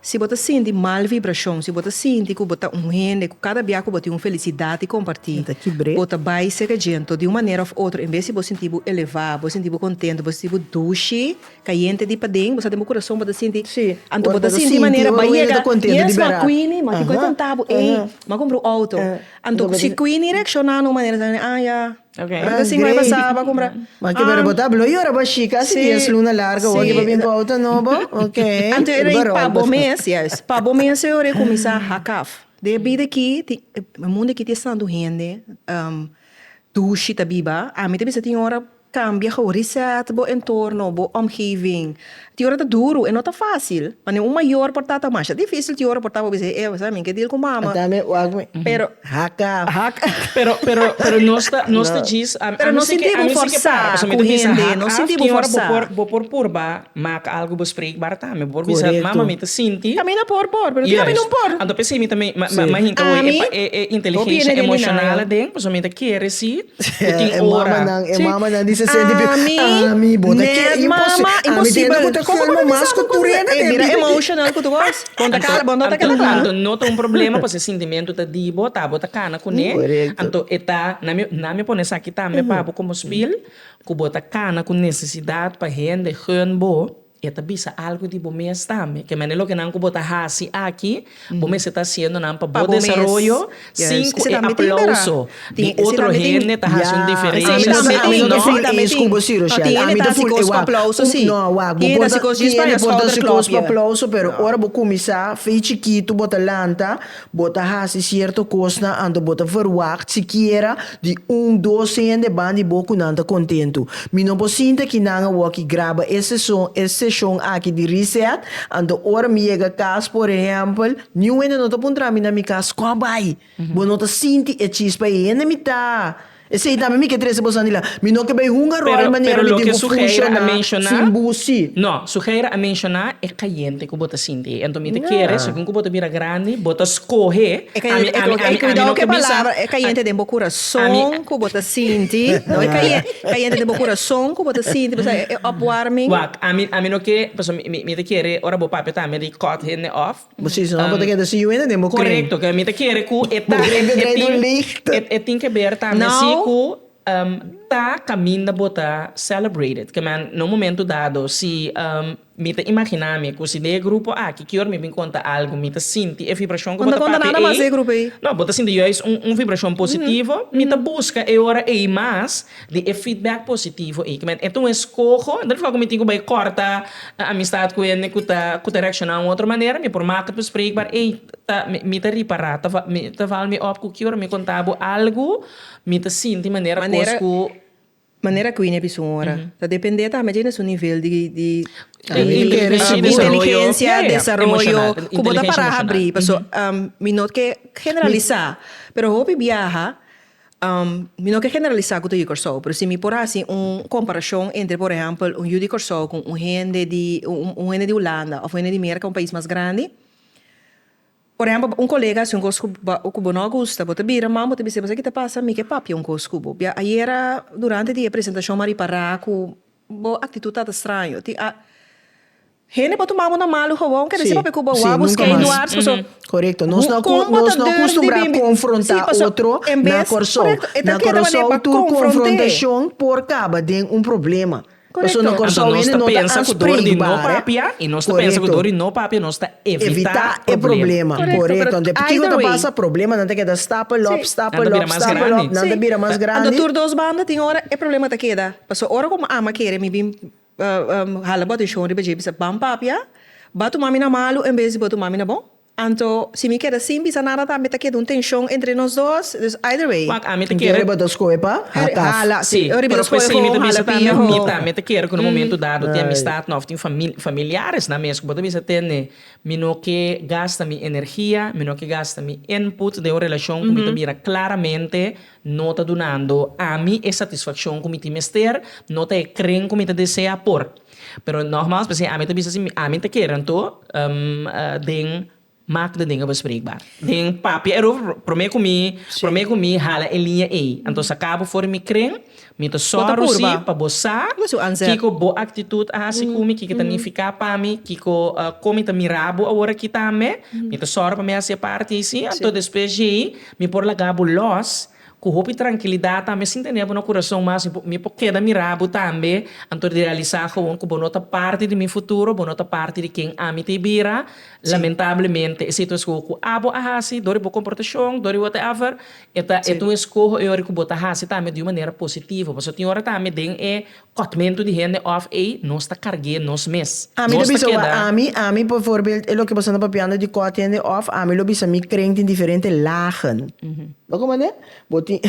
Si bo ta sinti mal vibrashon, si bo ta sinti ku bo ta un hende ku kada bia ku bo tin un felisidat di kompartí, bo ta bai sega djento di un manera òf otro. En bes di bo sinti bo elevá, bo sinti bo kontentu, bo sinti bo dushi, kayente di paden, bo sa den bo kurason bo ta sinti, anto bo ta sinti manera bo a yega, yes ma Queenie, ma tin ku a konta bo, ey, m'a kumpra un outo. Anto si Queenie reakshoná na un manera, ta kende, ah ya. Ora sin bay pa Saba cumpra. Maki pero bo ta hablo y ora bo a shika haci dies luna largo bo aki pa bin cu auto nobo ok. Anto era y pa bo mes yes pa bo mes e ora e cuminsa hack af. Den e bida aki tin e mundo aki tin estantu hende dushi ta biba ami ta bisa tin ora cambia how reset bo entorno bo omgeving. Tin ora ta duru, e no ta fácil. Pa niun mayor por ta ta masha difícil tin ora por ta pa bisé, eh, bo sa mi ke deal ku mama. Ata mi wak mi. Pero, haka. Haka. Pero, pero, pero nos ta, nos ta djis, a, a mi si ke, a mi si ke para, pasobra mi ta bisa hak af, tin ora bo por, bo por purba mak algu, bo spreek barata mi, bo por bisa, mama mi ta sinti. Ami ta por por, pero tin ami no por. Anto p'esei mi ta, mi, mi, mi hinka hoy e, e, e inteligencia emocional aden, pasobra mi ta kere si. E tin ora. E mamanan di sesenta y piko. Ami bota ke imposibel. Ami tin yenda ku ta kalma mas ku tur hende den bida. Emotional ku tur kos. Bon ta kala bon ta kala kla. Anto no ta un problema pasobra e sintimentu ta di bo ta bo ta kana kuné. Anto e ta nan mi nan mi pone esaki tambe pa bo komo spil ku bo ta kana ku nesesidat pa hende geun bo. I a ta bisa algu di bo mes tambe. Ke manera loke nan ku bo ta hasi aki, bo mester ta hasiendo nan pa bo desaroyo sin ku e aplauso di otro hende ta hasi un diferensha. Ami no ta full eens ku bo, Ciro Shell. Ami ta full e wak. No, wak. Bo por ta tihende por ta hasi kos pa aplauso, pero ora bo kuminsá, fe chikitu bo ta lanta, Bo ta hasi sierto kosnan anto bo ta verwagt sikiera di un dos hende ban di bo ku nan ta kontentu. Mi no por sinta ki nan a woki graba e seson e seshon aki di Reset, anto ora mi yega kas, por ehèmpel, niun hende no ta puntra mi na mi kas, Kò bai? Bo no ta sinti e chispa ei? Hende mitá! Esei tambe mi ke trese bo Sandila. Mi no ke bay hunga rooi manera mi tin ku funshoná sin busi. No, Suheira a menshoná e kayente ku bo ta sinti. Enton mi ta kere, segun ku bo ta bira grandi, bo ta skohe. Ami, ami, ami, ami no ke bisa. E kayente den bo kurason ku bo ta sinti, no e kayente den bo kurason ku bo ta sinti, mi ta kere e opwarming. Wak, ami, ami no ke, pasobra mi ta kere ora bo papia tambe di cut hende off. Bo si no, bo ta keda si Juena den bo kren. Korekto, mi ta kere ku e ta e tin ke ber tambe si ku ta kaminda bo ta celebrated. Ke men na un momentu dado si mi ta imaginá mi ku si den e grupo aki ke ora mi bin konta algu mi ta sinti e vibrashon ku bo ta papia ei, no bo ta sinti juis un vibrashon positivo, mi ta buska e ora ei mas. Di e feedback positivo ei, kimen e ta un eskoho, no ta kua ku mi tin ku bai kòrta e amistad ku hende ku ta ku ta reakshoná un otro manera, mi por maka tuspreekbaar, ey ta mi ta ripará, ta val mi ta val mi òp ku ki ora mi kontá bo algu mi ta sinti manera kos ku. Manera ku Ine bisó ora, ta dependé tambe dje na su nivel di di inteligensia, desaroyo, ku bo ta pará habrí, paso mi no ke generalisá, pero hopi biaha. Mi no ke generalisá ku ta yu Kòrsou, pero si mi por hasi un komparashon entre por ehèmpel un yu di Kòrsou ku un hende di un hende di Hulanda òf un hende di Merka, un pais mas grandi. Por ehèmpel, un kolega hasi un kos ku bo ku bo no a gusta, bo ta bira man bo ta bis'é, Mester ki ta pasa? Mi ke papia un kos ku bo. Bia ayera durante di e presentashon mi a ripará ku Bo actitud ta ta straño. Tin a hende por tuma bo na malo gewoon. Quiere deci pape cu bo wou busca e luar paso. Correcto. Nos no acostumbrá confrontá otro na Corsou. Na Corsou tur confrontacion por caba den un problema. Paso na Corsou hende no ta aanspreekbaar. Correcto. Evitá e problema. Correcto. Ante kiko ta pasa problema nan ta keda stapel op, stapel op, stapel op. Nan ta bira mas grandi. Ando tur dos banda tin ora e problema ta keda. Pasobra ora ku mi ama kere mi bin hala bo atenshon riba dje, mi bisa, Ban papia, bo tuma mi na malu en bes di bo tuma mi na bon? Anto si mi keda sin bisa nada tambe ta keda un tenshon entre nos dos, dus either way. Wak, ami ta kere. Riba dos skohe pa hata. Si, pero pues si mi ta bisa tambe, mi tambe ta kere ku na momentu dado tin amistadnan òf tin familiaresnan mes ku bo ta bisa t'e ne, mi no ke gasta mi energia, mi no ke gasta mi input den un relashon ku mi ta mira klaramente. No ta dunando ami e satisfaccion cu mi tin mester, no ta e cren cu mi ta desea por. Pero nogmaals p'esei ami ta bisa si ami ta kere anto den mak den dinga bespreekbaar, den papia erover prome cu mi prome cu mi hala e linea ey, anto sa cabo for mi cren. Mi ta sòru sí pa bo sa kiko bo aktitut a hasi ku mi, kiko ta nifiká pa mi, kiko kon mi ta mirá bo aworakí tambe. Mi ta sòru pa mi hasi e parti sí. Anto despues dje ei mi por laga bo lòs ku hopi trankilidat tambe sin tene bo na kurason mas. Mi por keda mirá bo tambe anto di realisá gewoon ku bo no ta parti di mi futuro, bo no ta parti di ken ami ta e bira. Lamentablemente e situaskon ku abo a hasi dor di bo komportashon, dor di whatever, E ta e ta un eskoho e ora ku bo ta hasi tambe di un manera positivo, pasobra tin ora tambe den e kòtmentu di hende òf ei nos ta karg'é nos mes. Ami ta bisa ua ami, ami por voorbeeld e loke boso anda papiando di kòt hende òf ami lo bisa mi krent in diferente lagen. Lo ku manera? Bo tin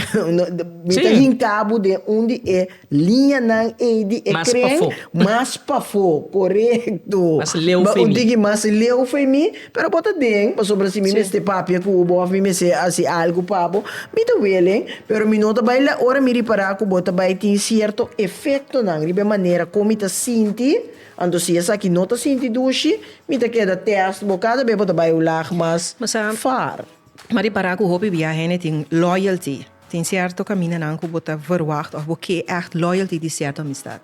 mi ta hinka bo den un di e. Liñanan ei di e kren mas pafó, korekto. Bo tin ki mas leu f'e mi, pero bo ta den, pasobra si mi mester papia ku bo òf mi mester hasi algu pa bo, mi ta welen, pero mi no ta bai la ora mi ripará ku bo ta bai tin sierto efektonan riba e manera kon mi ta sinti. Anto si esaki no ta sinti dushi, mi ta keda tèst bo kada bes bo ta bai un lag mas far. Mi a ripará ku hopi bia hende tin loyalty. Tin cierto caminanan cu bo ta verwacht of bo ke echt loyalty di cierto amistad.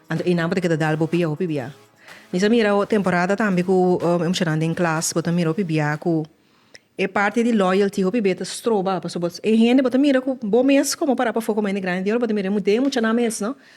Anto enan bo ta keda dal bo pia hopi bia. Mi sa mira temporada tambe cu e mushanan den klas, bo ta mira hopi bia cu e parti di loyalty hopi be ta stroba pasobra e hende bo ta mira cu bo mes como para pafo coma hende grandi di ora bo ta mira den e muchanan mes no.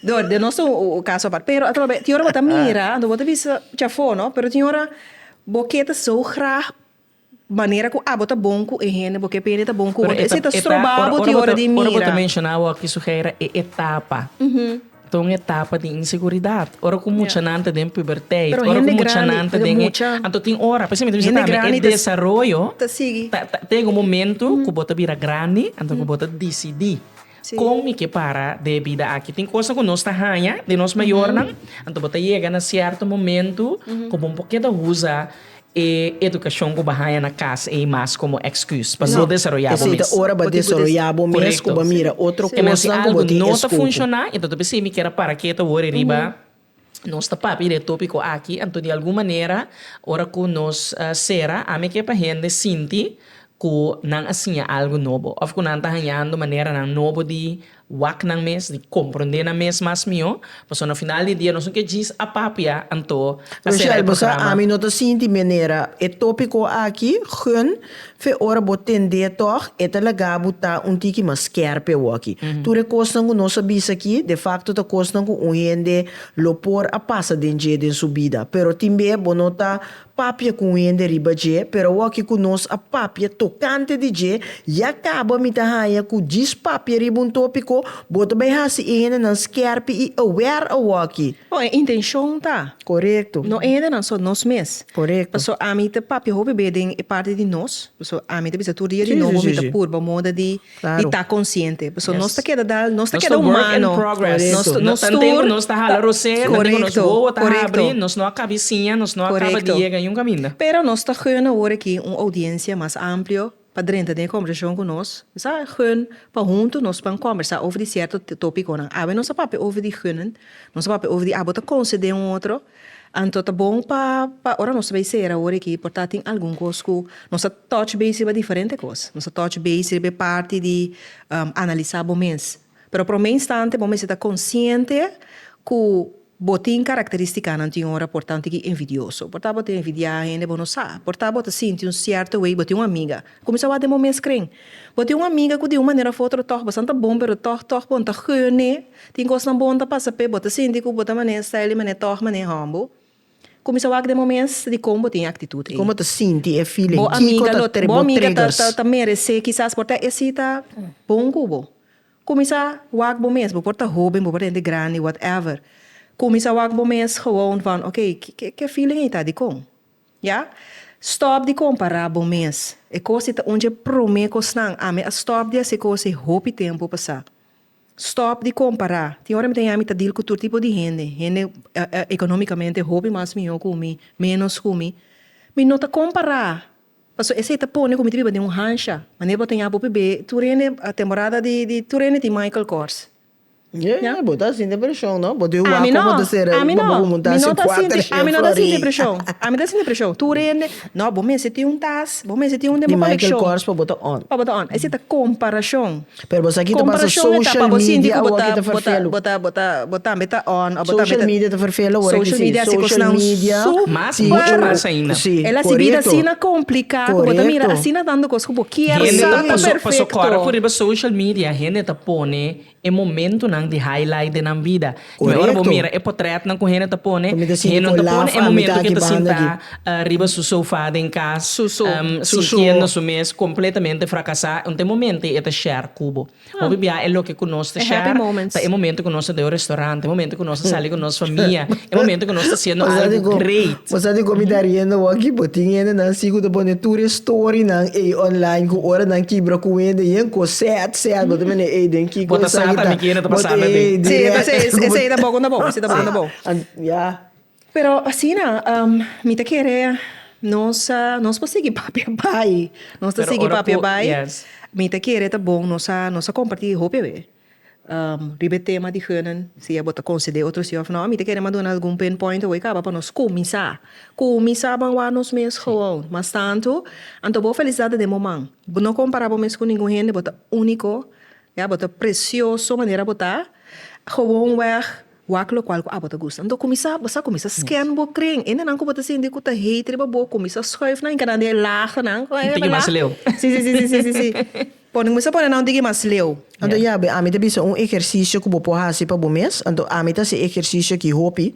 Dor den nos ta un caso apart. Pero a trobe, tin ora bo ta mira, anto bo ta bisa chafó, no? Pero tin ora bo ke ta so grag manera cu abo ta bon cu e hende, bo ke pa hende ta bon cu bo. Esei ta stroba bo tin ora di mira. Ora bo ta menciona awor aki, Suheira, e etapa. Ta un etapa di inseguridad. Ora cu muchanan ta den puberteit. Pero hende grandi, porque mucha. Anto tin ora, p'esei mi ta bisa tambe, e desaroyo. Ta sigui. Ta yega un momento cu bo ta bira grandi, anto cu bo ta dicidi. Kon mi ke para den e bida aki? Tin kos ku nos ta haña den nos mayornan, anto bo ta yega na sierto momentu ku bo por keda usa e edukashon ku bo a haña na kas ei mas komo eksküs pa no desaroyá bo mes. Esei ta ora pa desaroyá bo mes ku bo mira otro kosnan ku bo tin esku ku. Koreto. Si algu no ta funshoná enton ta bisa ei mi keda para keta wor e riba. Nos ta papia di e tópiko aki, anto di algun manera ora ku nos sera, ami a ke pa hende sinti ku nan a siña algu nobo òf ku nan ta hañando maneranan nobo di wak nan mes, di komprondé nan mes mas mihó. Pasobra na final di dia nos no ke djis a papia, anto a sera e programa. Rochelle, bo sa ami no ta sinti manera e tópiko aki, Gun, Fe ora bo tend'é tòg, e ta laga bo ta un tiki mas skèrp ewoki. Tur e kosnan ku nos a bisa aki, defakto ta kosnan ku un hende lo por a pasa den dje den su bida. Pero tin be bo no ta papia ku un hende riba dje, pero awoki ku nos a papia tokante di dje ya kaba mi ta haña ku djis papia riba un tópiko bo ta bai hasi e hendenan skèrp i aware awoki. Bon, e intenshon ta Korekto. No enhendenan, so nos mes. Korekto. Paso ami ta papia hopi be den e parti di nos, paso ami ta bisa tur dia di nobo. Si, si, si, si. Mi ta purba moda di Claro. di ta konsiente. Paso nos ta Yes. keda dal, nos ta Nos keda ta work in humano. progress. Korekto. Nos, nos Tanten tur ku nos ta hala rosé, tanten ku nos Korekto, wowo ta korekto. habri, nos no a kabi siña, nos no a kaba di Korekto. yega en un kaminda. Pero nos ta huna awor aki un oudiensia mas amplio. pa drenta den e kombersashon ku nos. Sa gùn pa huntu nos pan kòmbersá over di sierto tópikonan. Awe nos ta papia over di gùn, nos ta papia over di abo ta konsede un otro. Anto ta bon pa pa ora nos ta bai sera awor aki por ta tin algun kos ku nos ta tòch base riba diferente kos. Nos ta tòch base riba e parti di analisá bo mes. Pero promé instante bo mester ta konsiente ku bo tin karakterístikanan tin ora por tantu di envidioso. Por ta bo ta envidiá hende bo no sa. Por ta bo ta sinti un sierto wei bo tin un amiga. Kuminsá wak den bo mes kren. Bo tin un amiga ku di un manera òf otro tòg bastan ta bon pero tòg tòg bon ta geun'é. Tin kosnan bon ta pasa p'é. Bo ta sinti ku bo ta manera stijl i manera tòg manera hòmbo. Kuminsá wak den moments di kon bo tin e aktitut ei. Komo bo ta sinti e feeling? Bo amiga lo ta, bo amiga ta ta ta meresé kisas por ta esei ta bon ku bo. Kuminsá wak bo mes, bo por ta hóben, bo por ta hende grandi, whatever. Kuminsá wak bo mes gewoon van ok, ke ke feeling ei ta di kon? Ya. Stòp di kompará bo mes. E kos ei ta un dje promé kosnan. Ami a stòp di hasi kos ei hopi tempu pasá. Stop di compara. Tin ora mi ta yami ta deal cu tur tipo di hende, hende economicamente hopi mas miho cu mi, menos cu mi, mi no ta compara, pasobra esey ta pone cu mi ta biba den un hansha, manera bo ta ya bo p'e tur hende temporada di di tur hende tin Michael Kors. Nya. Bo ta sinti presion no? Bo ta yu wak como ta ser ami no, ami no, mi no ta sinti, ami no ta sinti presion, ami no ta sinti presion, tur hende no bo mester tin un tas, bo mester tin un den bo coleccion, pa bo ta on, esey ta comparacion. Pero bo sa ki ta pasa social media awor ki ta ferfelu. Bo ta bo ta bo tambe ta on of bo tambe ta. Social media ta ferfelu awor aki si. Social media haci cosnan super. Mas mucho mas ainda. Si corecto. Ela si bida asina complica cu bo ta mira asina tanto cos cu bo kier sa ta perfecto. Hende ta paso paso cora cu riba social media hende ta pone e momentonan di highlight di nan bida. Mi ora bo mira e potrètnan ku hende ta pone, hende no ta pone e momentu ke ta sintá riba su sofá den kas, sintiendo su mes kompletamente frakasá, un ta e momente e ta share ku bo. Hopi bia e loke ku nos ta share ta e momentu ku nos ta deo restorante, e momentu ku nos ta sali ku nos famia, e momentu ku nos ta hasiendo algu grei. Bo sa di comida riendo bo aki bo tin hende nan si cu ta pone tur e story nan ey online cu ora nan kibra cu hende yen cu sad sad bo ta mende ey den ki cosa aki ta bo ta ey direct bo ta Pero asina mi ta kere nos nos por sigui papia bay nos ta sigui papia bay mi ta kere ta bon nos a nos a comparti hopi awe. Riba e tema di heunan, si abo ta concede otro si of no, mi ta kere mas duna algun pin point awey caba pa nos cuminsa. Cuminsa ban wak nos mes gewoon. Mas tanto, anto bo felicidad den bo man. Bo no compara bo mes cu ningun hende, bo ta unico, ya, bo ta precioso manera bo ta, gewoon weg. Wak lokual ku abo ta gusta. Anto kuminsá, bo sa kuminsá sken bo kren. Hendenan ku bo ta sinti ku ta hate riba bo, kuminsá schuif nan i kada un di e laagnan. Un tiki mas leu. Sí, sí, sí, sí, sí. Pone, kuminsá pone nan un tiki mas leu. Anto ya be, ami ta bisa un ehersisio ku bo por hasi pa bo mes. Anto ami ta hasi e ehersisio aki hopi.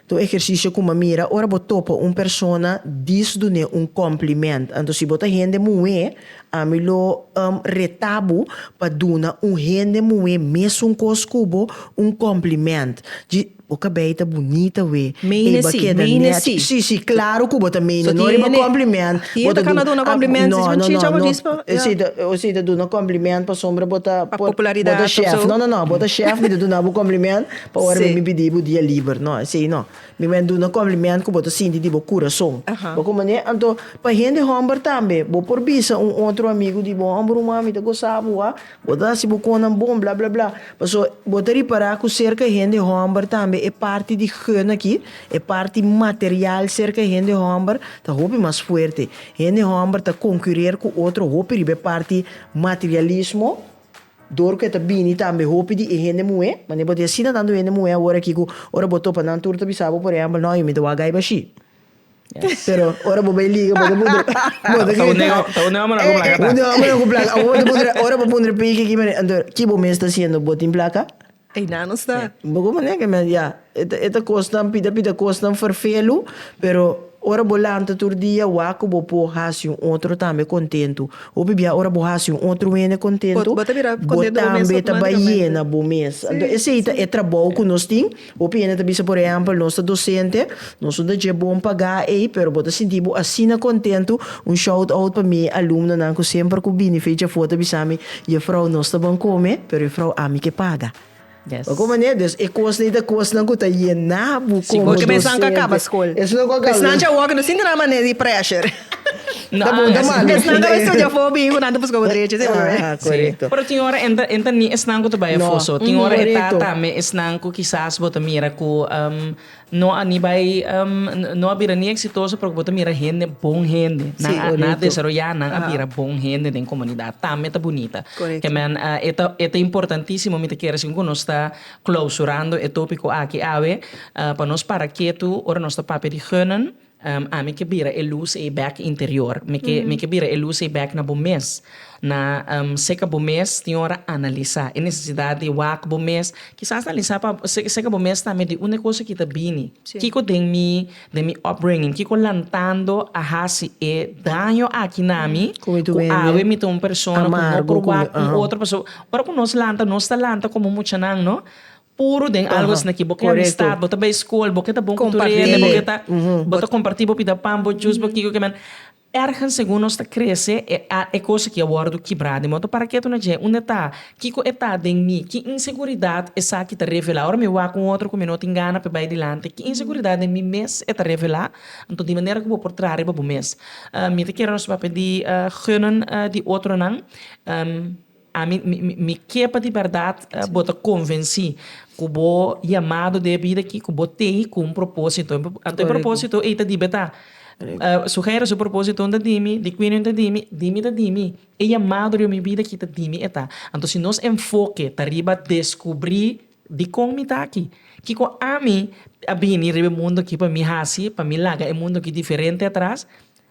Ta un ehersisio ku mi a mira, ora bo topa un persona, dis dun'é un kòmplimènt. Anto si bo ta hende muhé, Ami lo um retá bo pa duna un hende muhé mésun kos ku bo un kòmplimènt. Dji, bo kabei ta bunita we. Meine si, meine si. Sí, sí, klaru ku bo ta meine, no riba kòmplimènt. Bo ta duna. Hende ta kana duna kòmplimènt, si bo tjitja bo dis pa. O si ta duna kòmplimènt pasobra bo ta. Pa popularidat òf so. Bo ta shèf. No, no, no, bo ta shèf, mi ta duna bo kòmplimènt pa ora mi bin pidi bo dia liber. No, esei no. Mi wen duna compliment cu bo ta sinti di bo curason. Bo con manera. Anto, pa hende homber tambe, bo por bisa un otro amigo di bo, Homber human, mi ta gosa bo, a. Bo ta haci bo connan bon, bla, bla, bla. Paso, bo ta ripara cu cerca hende homber tambe e parti di geun aki, e parti material cerca e hende homber ta hopi mas fuerte. Hende homber ta concurer cu otro hopi riba e parti materialismo. Dor ku e ta bini tambe hopi di e hende muhé, manera bo ta yasina tantu hende muhé awor aki ku ora bo topa nan tur ta bisa bo, por ehèmpel, no, mi ta wak gaiba ashí. Pero ora bo bai liga bo ta puntra, bo ta grita, Ta un òmbernan ku plaka ta? Un òmbernan ku plaka, awor bo ta puntra, ora bo puntra piki ki manera, anto ki bo mes ta hasiendo, bo tin plaka? Einan nos ta. Bo ko manera ke men ya e ta kosnan pita pita kosnan ferfelu pero ora bo lanta tur dia wak ku bo por hasi un otro tambe kontentu hopi bia ora bo hasi un otro hende kontentu bo tambe ta bai yena bo mes esei ta e trabou ku nos tin hopi hende ta bisa por ehempel nos ta dosente Nos no ta dje bon pa ga ei, pero bo ta sinti bo asina kontentu? Un shout out pa mi alumnonan ku semper ku bini fecha for ta bisa mi, Jefrou, nos ta ban kome, pero Jefrou ami ke paga. Yes. Oko manera, dus e kosnan ei ta kosnan ku ta yena bo Si, komo kochemen esnan ka kaba docente. skol. Esnan ku a kaba. Esnan dje awor no sinti nan manera di pressure. No, Ta bon, ta esnan- malo. Esnan ka bai studia afó bini ku nan ta buska bo drechi, si no? Aha, Sí. korekto. Pero tin ora en ta en ta ni esnan ku ta bai No. afó so. Tin ora e ta Korekto. tambe esnan ku kisas bo ta mira ku, um, No a ni bai no a bira ni exitoso pero bo ta mira hende bon hende nan a nan a desaroya nan a bira bon hende den comunidad tambe ta bunita ke men e ta e ta importantisimo mi ta kere asin ku nos ta clausurando e topico aki awe pa nos para ketu ora nos ta papia di gunnen. Ami ke bira e lus ei bek interior. Mi ke mi ke bira e lus ei bek na bo mes. Na seka bo mes tin ora analisa e nesesidat di wak bo mes. Kisas analisa pa seka bo mes tambe di unda e kosa ki ta bini. Kiko den mi den mi upbringing kiko lantando a hasi e daño aki na mi ku awe mi ta un persona ku no por wak ku otro pasobra ora ku nos lanta nos ta lanta komo muchanan no. Puru den algo esna ki bo ke amistad, bo ta bai skol, bo ke ta bon ku tur hende, bo ke ta bo ta kompartí bo pida pan, bo jus, bo kiko kiman. Ergens segun nos ta krese e a e kos aki a wòrdu kibrá den moto. Parakí ato na dje? Unda e ta? Kiko e ta den mi? Ki inseguridat esaki ta revelá? Ora mi wak un otro ku mi no tin gana pa e bai dilanti, ki inseguridat den mi mes e ta revelá? Anto di manera ku bo por traha riba bo mes? Mi ta kere nos papia di geunan di otronan. Ami mi ke pa di bèrdat bo ta konvensí ku bo yamado den e bida akí ku bo tei ku un propósito. Anto e propósito ei ta dibe ta su Hègere su propósitonan ta di mi, di Quinion ta di mi, di mi ta di mi. E yamado riba mi bida akí ta di mi e ta. Anto si nos enfoke ta riba deskubrí dikon mi ta akí, kiko ami a bini riba e mundu akí pa mi hasi, pa mi laga e mundu akí diferente atras,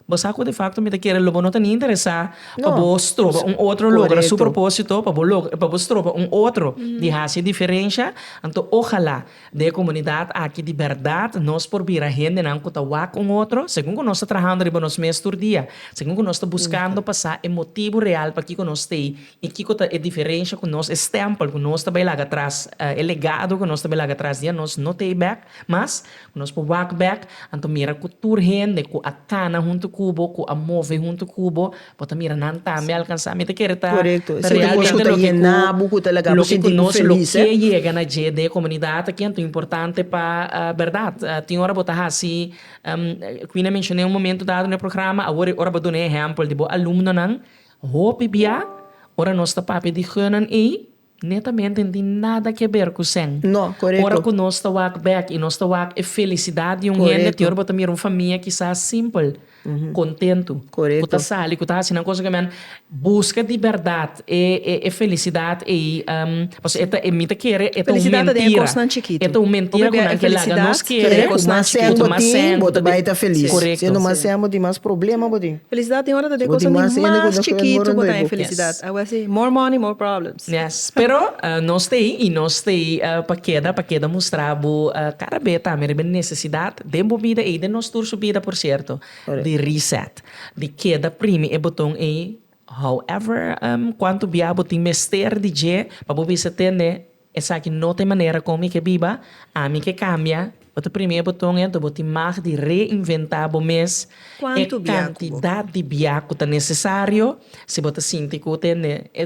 Bo sa cu de facto mi ta kere lo bo no ta ni interesa pa bo stroba un otro logra su proposito pa bo logra pa bo stroba un otro di haci diferencia anto ojala den e comunidad aki di berdad nos por bira hendenan cu ta wak un otro segun cu nos ta trahando riba nos mes tur dia segun cu nos ta buscando pa sa e motibo real pakico nos ta ey y kico ta e diferencia cu nos e stempel cu nos ta bay laga tras e legado cu nos ta bay laga tras dia nos no ta ey bek mas. Nos por wak bek, anto mira ku tur hende ku a kana huntu ku bo, ku a move huntu ku bo, bo ta mira nan tambe a alkansá. Mi ta kere ta realmente loke ku nos lo ke yega na dje den e komunidat aki, anto importante pa bèrdat. Tin ora bo ta hasi, ku Ina menshoné un momentu dado na e programa, awor e ora bo duna e ehèmpel di bo alumnonan. Hopi bia, ora nos ta papia di heunan ei, Netamente no tin nada ke ber ku sèn. No, korekto. Ora ku nos ta wak bèk i nos ta wak e felisidat di un hende, Korekto. te ora bo ta mira un famia kisas simpel, kontentu, Korekto. ku ta sali, ku ta hasi nan kos oke men. Buska di bèrdat e, e, e felisidat ei, pasobra e ta, e mi ta kere e ta un Felisidat ta den e mentira. kosnan chikitu. E ta un mentira Bo ku bia nan e ke laga felisidad nos ta den e kere. Ku kosnan mas sèn chikitu. bo Ku mas tin, sèn, bo bo ta ta, bai ta felis. Si Korekto. e no mas sèn bo tin mas problema bo tin. Felicidad tin ora ta den cosa di mas chikitu cu ta e felicidad. Awor si, more money, more problems. Yes. Pero nos ta ei, i nos ta ei pa keda, pa keda mustra bo cara be ta haber e necesidad den bo bida ei, den nos tur su bida por cierto, di reset, di keda primi e boton ei, however cuanto bia bo tin mester di dje pa bo bisa tende Esaki no ta e manera kon mi ke biba, ami ke kambia. Bo ta primi e boton ento, bo tin mag di reinventá bo mes. E kantidat di bia ku ta nesesario, si bo ta sinti ku te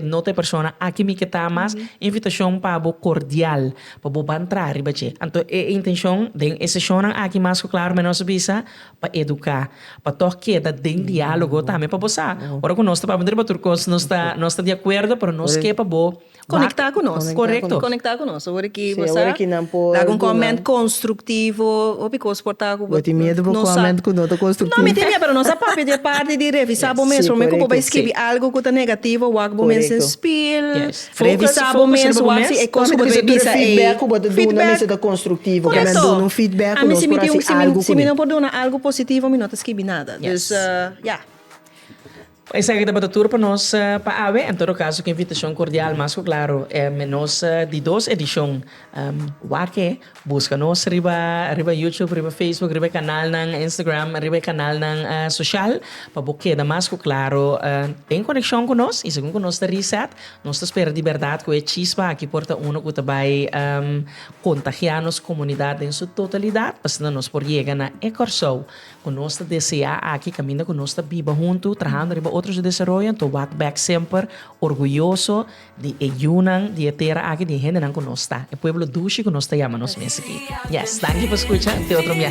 no ta e persona aki mi ke ta mas, invitashon pa bo kordial pa bo ban traha riba dje. Anto e intenshon den e seshonnan aki mas ku klaru mi a nos a bisa pa eduká, pa tòg keda den diálogo tambe pa bo sa ora ku nos ta papia riba tur kos nos ta di akuerdo, pero nos ke pa bo. Konektá ku nos, korekto. Konektá ku nos, ora ki bo sa laga un kòment konstruktivo, hopi kos por ta ku bo. Bo tin miedu for kòment ku no ta konstruktivo? No mi tin miedu, pero nos a papia di e parti di revisá bo mes. Promé ku bo bai skibi algu ku ta negativo, wak bo mes den spil, revisá bo mes, wak si e kos ku bo ta bai bisa ei. Feedback ku bo ta duna mester ta konstruktivo. Korekto. Nan duna un feedback ku nos por hasi algu kuné. Ami si mi no por duna algu positivo, mi no ta skibi nada. Dus, ya. Esaki tabata tur pa nos pa awe. En todo caso, cu invitacion cordial, mas cu claro menos di dos edicion wak-e. Busca nos riba riba YouTube, riba Facebook, riba e canalnan Instagram, riba e canalnan social pa bo keda mas cu claro den coneccion cu nos. Y segun cu nos ta reset, nos ta spera di berdad cu e chispa aki por ta uno cu ta bay contagia nos comunidad den su totalidad pasobra nos por yega na e Corsou Cu nos ta desea aki caminda cu nos ta biba hunto trahando riba otro su desaroyo, anto wak bek semper orguyoso di e yunan di e tera aki, di e hendenan cu nos ta, e pueblo dushi cu nos ta yama nos mes aki. Yes, danki pa scucha, te otro mia.